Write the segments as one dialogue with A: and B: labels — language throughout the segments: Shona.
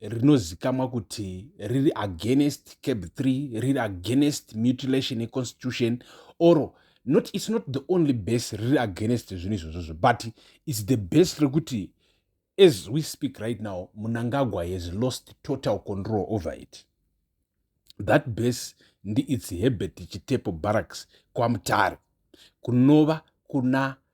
A: rinozikamwa kuti riri against cab 3 riri against mutilation yeconstitution or not its not the only base riri against zvinhu izvozvozvo but its the base rekuti as we speak right now munangagwa has lost total control over it that base ndiits hebert chitepo barracks kwamutare kunova kuna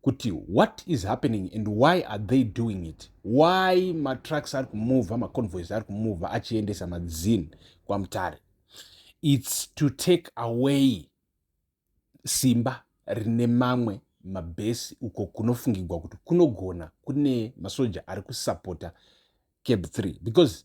A: kuti what is happening and why are they doing it why matrucks ari kumovha maconvoys ari kumovha achiendesa madzin kwamutare its to take away simba rine mamwe mabhesi uko kunofungigwa kuti kunogona kune masoja ari kusapota cab 3 because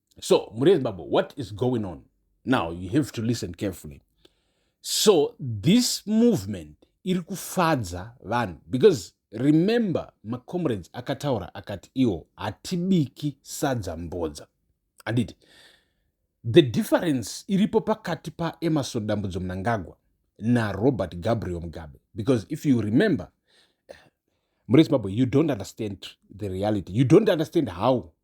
A: so mhuri yezimbabwe what is going on now you have to listen carefully so this movement iri kufadza vanhu because remember macomrades akataura akati iwo hatibiki sadza mbodza anditi the difference iripo pakati paemarson dambudzo munangagwa narobert gabriel mugabe because if you remember mure zimbabwe you don't understand the reality you don't understand how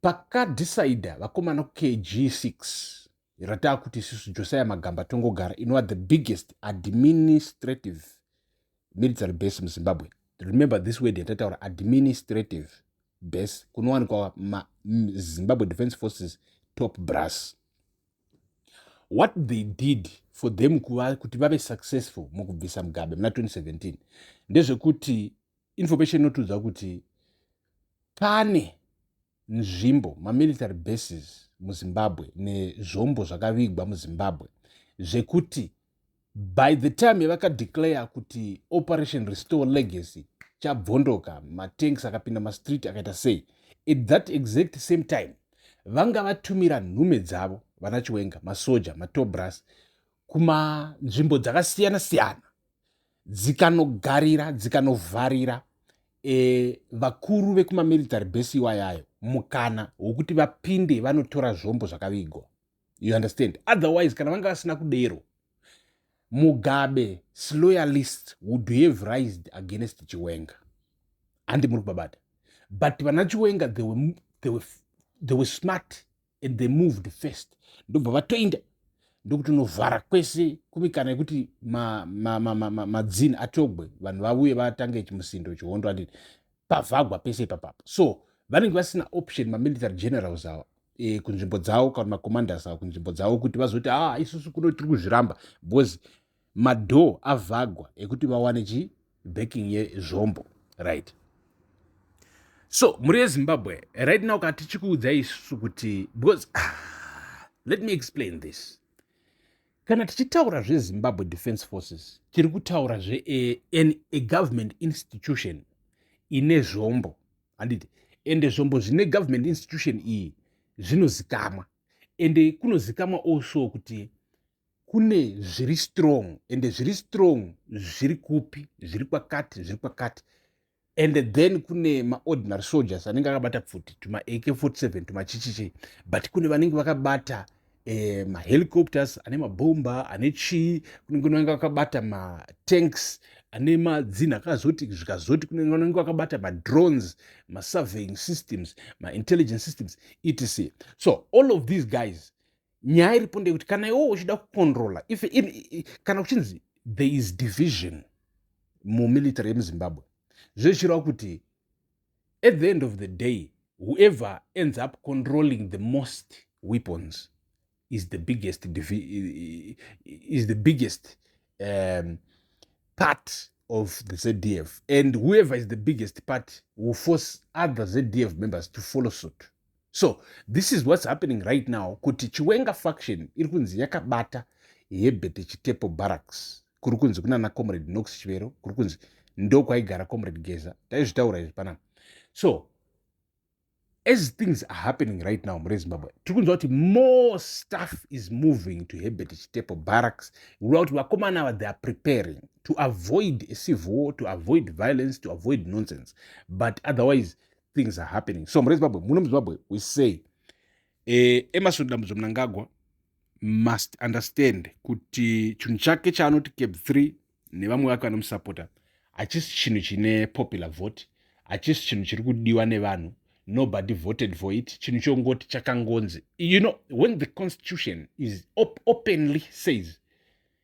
A: pakadecider vakomana kg6 rataa kuti isusu josiah magamba tongogara inova the biggest administrative military base muzimbabwe remember this word yatataura administrative base kunowanikwa zimbabwe defense forces top brass what they did for them kuva kuti vave successful mukubvisa mugabe muna 2017 ndezvekuti information inotiudza kuti pane nzvimbo mamilitary bases muzimbabwe nezvombo zvakavigwa muzimbabwe zvekuti by the time yavakadeclare kuti operation restore legacy chabvondoka matanks akapinda mastreet akaita sei at that exact same time vanga vatumira nhume dzavo vana chiwenga masoja matobras kumanzvimbo dzakasiyana siyana dzikanogarira dzikanovharira e, vakuru vekumamilitary base iwayayo mukana wokuti vapinde vanotora zvombo zvakavigwa you understand otherwise kana vanga vasina kudero mugabe sloyalist would have rised against chiwenga handi muri kubabata but vana chiwenga they were, they were, they were smart and they moved first ndobva vatoinda ndokutonovhara kwese kumikana yekuti madzini atogwe vanhu vavuye vatange chimusindo chihondo ati pavhagwa pese ipapapo so vanenge vasina option mamilitary generals ava e, kunzvimbo dzavo kana macommanders avo kunzvimbo dzavo kuti vazoti a ah, isusu kuno tiri kuzviramba because madoor avhagwa ekuti vawane chi backing yezvombo right so mhuri yezimbabwe right now ka tichikuudzai isu kuti because ah, let me explain this kana tichitaura zvezimbabwe defense forces tiri kutaura zve eh, an a government institution ine zvombo handiti ende zvombo zvine government institution iyi zvinozikamwa ende kunozikamwa also kuti kune zviri strong and zviri strong zviri kupi zviri kwakati zviri kwakati and then kune maordinary soldiers anenge akabata pfuti tuma ak 47 tumachichichi but kune vanenge vakabata eh, mahelicopters ane mabhomba ane chii kunenge kunenge vakabata matanks ane madzinha akazoti zvikazoti kunenge vanenge vakabata madrones masurveying systems maintelligence systems etc so all of these guys nyaya iripo ndeyekuti kana iwo uchida kucontrola if in, kana kuchinzi there is division mumilitary yemuzimbabwe zvezvichireva kuti at the end of the day whoever ends up controlling the most weapons is the biggest is the biggest um, part of the zdf and whoever is the biggest part will force other zdf members to follow suit so this is what's happening right now kuti chiwenga faction iri kunzi yakabata yebete chitepo barracks kuri kunzi kunana comrade nox chivero kuri kunzi ndokwaigara comrade geza taizvitaura izvi panapa so as things are happening right now mure zimbabwe tiri kunzwa kuti more stuff is moving to hebert chitepo barracks kureva kuti vakomana ava they are preparing to avoid a civil war to avoid violence to avoid nonsense but otherwise things are happening so murezimbabwe muno muzimbabwe we say eh, emerson dambudzo mnangagwa must understand kuti chinhu chake chaanoti cap 3 nevamwe vake vanomusapota hachisi chinhu chine popular vote hachisi chinhu chiri kudiwa nevanhu nobody voted for it chinhu chongoti chakangonzi you know when the constitution is op openly says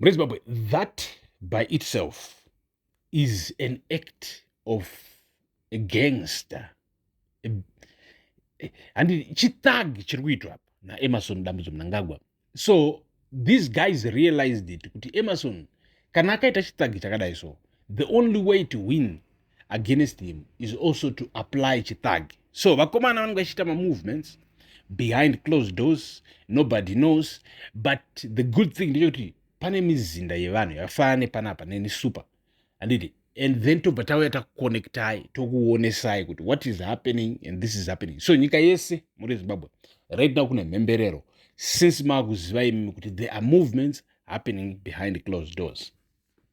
A: mune zimbabwe that by itself is an act of a gangster handi chithug chiri kuitwa apa naemerson dambudzo munangagwa so these guys realized it kuti emerson kana akaita chithug chakadai so the only way to win against him is also to apply chithug so vakomana vanenge vachiita mamovements behind closed doors nobody knows but the good thing ndechekuti pane mizinda yevanhu yakafanana nepanapa neni super anditi and then tobva tauya takuconnectai tokuonesai kuti what is happening and this is happening so nyika yese muri zimbabwe right now kune mhemberero since maakuziva imimi kuti there are movements happening behind closed doors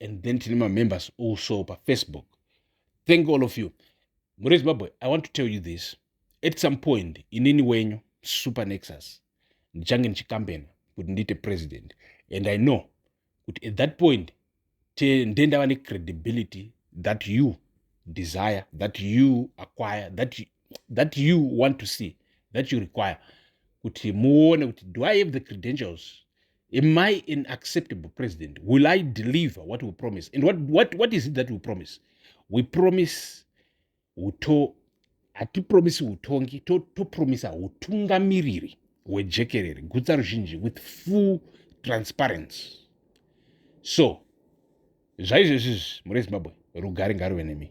A: and then tine mamembers also pafacebook thank all of you muri zimbabwe i want to tell you this at some point inini wenyu super nexus ndichange ndichikambena kuti ndiite president and i know kuti at that point ndendava necredibility that you desire that you acquire that you, that you want to see that you require kuti muone kuti do i have the credentials Am I an acceptable president? Will I deliver what we promise? And what, what, what is it that we promise? We promise uto hatipromisi utongi topromisa to utungamiriri hwejekerere gutsa ruzhinji with full transparency so zvaizvezvizvi muri zimbabwe rugare ngaruve nemi